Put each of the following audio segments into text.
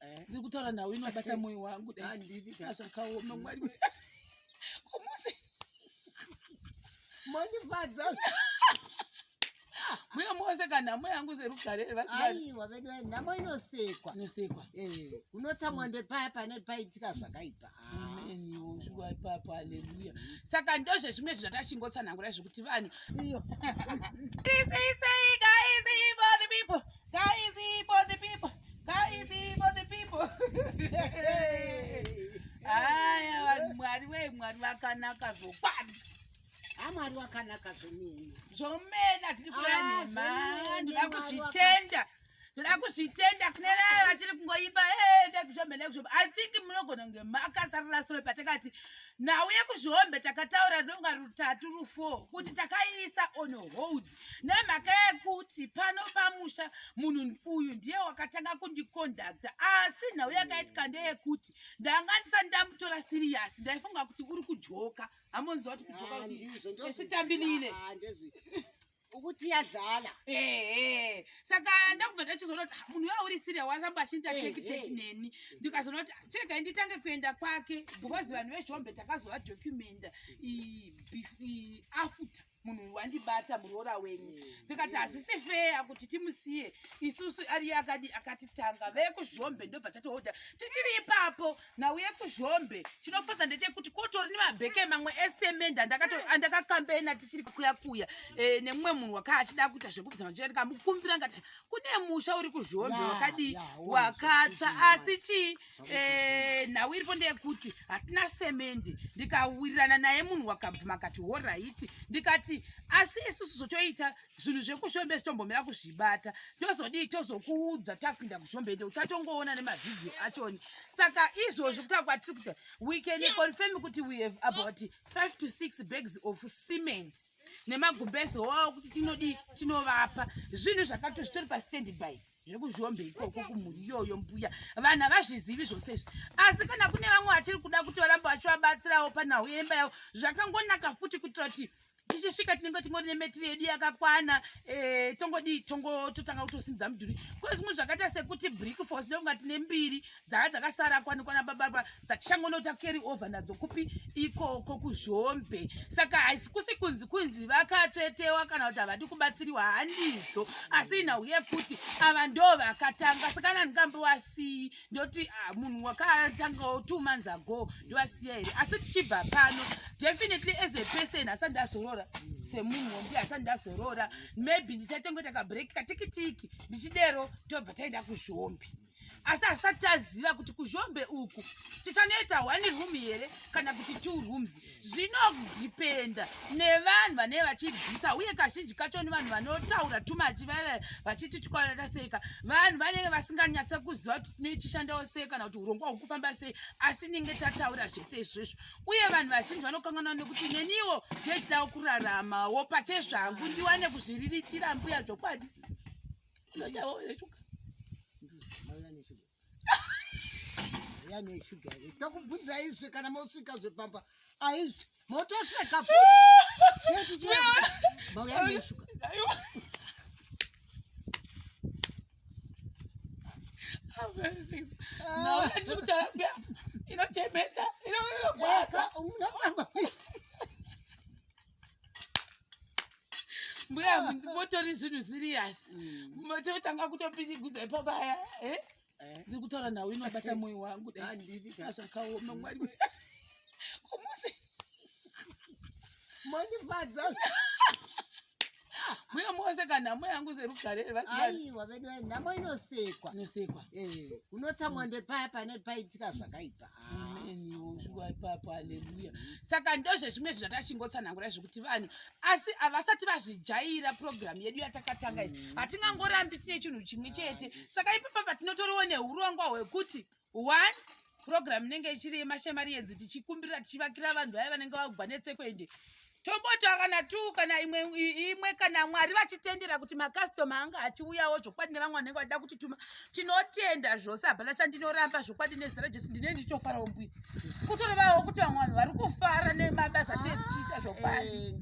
eh. ndiri kutaura nhau inobata moyo wangu zvakaoma mwari kumusi mondifadza mbuya mose kana nhamo yangu serugare aiwa vedu nhamo inosekwa inosekwa eh, unotsa mwando paya pane paitika zvakaipa kusvika ipapo haleluya saka ndozvezvimwe zvinhu zvatachingotsanangura zvekuti vanhu vakanaka zvokwadi amwari wakanaka zvomene zvomene hatidi kuranhema ah, ndoda kuzvitenda ndoda kuzvitenda kune vaya vachiri kungoimba eh, ndekuzvomene kuzvo i think munogona kunge makasarira sure patakati hey, nhau yekuzvihombe takataura donga rutatu rufo kuti takaiisa on hold nemhaka yekuti pano pamusha munhu uyu ndiye wakatanga kundikondakta asi nhau yakaitika ndeyekuti ndanga ndisati ndamutora sirius ndaifunga kuti uri kujoka hamonziva kuti kujoka ah, esitambilile ukuti yadlala ehe saka ndakubva ndachizoona kuti ah, munhu wauri siria wasamba achinita tekiteki neni ndikazoona kuti ah, chirega nditange kuenda kwake because vanhu vezhombe takazova documenta afuta munhu wandibata muroora wenyu ndikati hazvisi feya kuti timusiye isusu ariye akati akatitanga vekuzhombe ndobva tatohodha tichiri ipapo nauye kuzhombe chinofadza ndechekuti kotori nemabheke mamwe esemende andakakambaina tichiri kuya kuya eh, nemumwe munhu waka achida kuita zvekubvisa machira ndikamukumbira ngati kune musha uri kuzhombe wakadii wakatsva asi chii eh, nhau iripo ndeyekuti hatina semende ndikawirirana naye munhu wakabvuma akati horaiti ndikati asi isusu zvotoita zvinhu zvekushombe zvitombomira kuzvibata tozodii tozokuudza tapinda kushombe ende uchatongoona nemavhidhiyo achoni saka izvozvo kutaa kwatiri kuita we can confirm kuti we have about five to six bags of cement nemagumbezi hoo kuti tinodii tinovapa zvinhu zvakato zvitori pastand by zvekuzhombe ikoko kumhuri iyoyo mbuya vanhu havazvizivi zvose izvi asi kana kune vamwe vachiri kuda kuti varambe vachivabatsirawo panhau yemba yavo zvakangonaka futi kuitira kuti tichisvika tinenge tingori nemetiri yedu yakakwana eh, tongodii tongototanga kutosimudza mudhuri ko zvimwe zvakaita sekuti brick fos ndonga tine mbiri dzaa dzakasara kwanikwana bababa dzatichangondota carry over nadzo kupi ikoko kuzhombe saka haisi kusi kunzi kunzi vakatsvetewa kana kuti havadi kubatsiriwa handizvo asi inhau yekuti ava ndo vakatanga saka nani kambo wasii ndoti ah, munhu wakatangawo two months ago ndovasiya here asi tichibva pano definitely as a person asati ndazorora semunhu wombi asati ndazorora maybe ndichatenge takabreak katikitiki ndichidero tobva taenda kuzvombi asi asati taziva kuti kuzvombe uku tichanoita one room here kana kuti two rooms zvinodhipenda nevanhu vanee vachibvisa uye kazhinji kacho ni vanhu vanotaura tumachi vave vachiti tikwaata seka vanhu vanenge vasinganyatse kuziva kuti tinoichishandawo sei kana kuti urongwa hwekufamba sei asi ninge tataura zvese izvozvo uye vanhu vazhinji vanokanganwa nekuti neniwo ndechidawo kuraramawo pache zvangu ndiwane kuzviriritira mbuya zvokwadi yani shuga iri tokubvunza izvi kana mosvika zvepamba aizvi motoseka mauyaneshuga inochemeta inoaka unofamba mbuya motori zvinhu serious mototanga mm. kutopidigudza ipapaya eh? eh? ndiri kutaura nhau inobata moyo wangu zvakaoma mwari kumusi mondifadza mbuya moseka nhamo yangu serugareaiwa vedu nhamo inosekwa inosekwa eh, unotsamwa ndepaya pane paitika zvakaipa saka ndozvezvimwe zvinhu atachingotsanangura zvekuti vanhu asi havasati vazvijaira purogiramu yedu yatakatanga iyi mm. hatingangorambi tine chinhu chimwe chete saka ipapa patinotoriwo neurongwa hwekuti one purogiramu inenge ichiri yemashemari yenzi tichikumbirira tichivakira vanhu vaya vanenge vagwa netsekwende tomboti kana tu kana imwe imwe kana mwari vachitendera kuti makastoma anga achiuyawo zvokwadi nevamwe vanenge vachida kuti tuma tinotenda zvose hapana chandinoramba zvokwadi nezita rajesu ndine ndichitofarawo mbuya kutorevawo kuti vamwe vanhu vari kufara nemabasa atee tichiita zvokwadi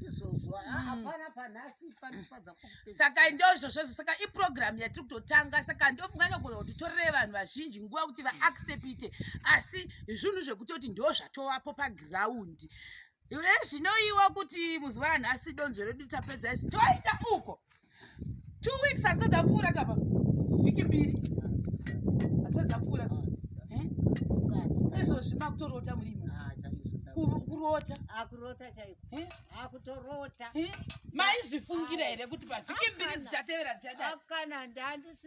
saka ndozvozvozvo saka iprogramu yatiri kutotanga saka ndofunga nogona kuti torere vanhu vazhinji nguva kuti vaaccepite asi zvinhu zvekutoti ndo zvatovapo pagiraundi zvinoiwa kuti muzuva anhu asi donzvo redu tapedza isi toita uko two weeks asati apfuura kapa vhiki mbiri asati apfuura eh? izvozvi makutorota murimo ah, kurota akurota ah, chaiko eh? akutorota ah, eh? maizvifungire here kuti pavhiki mbiri zichatevera zichadakana ndandisi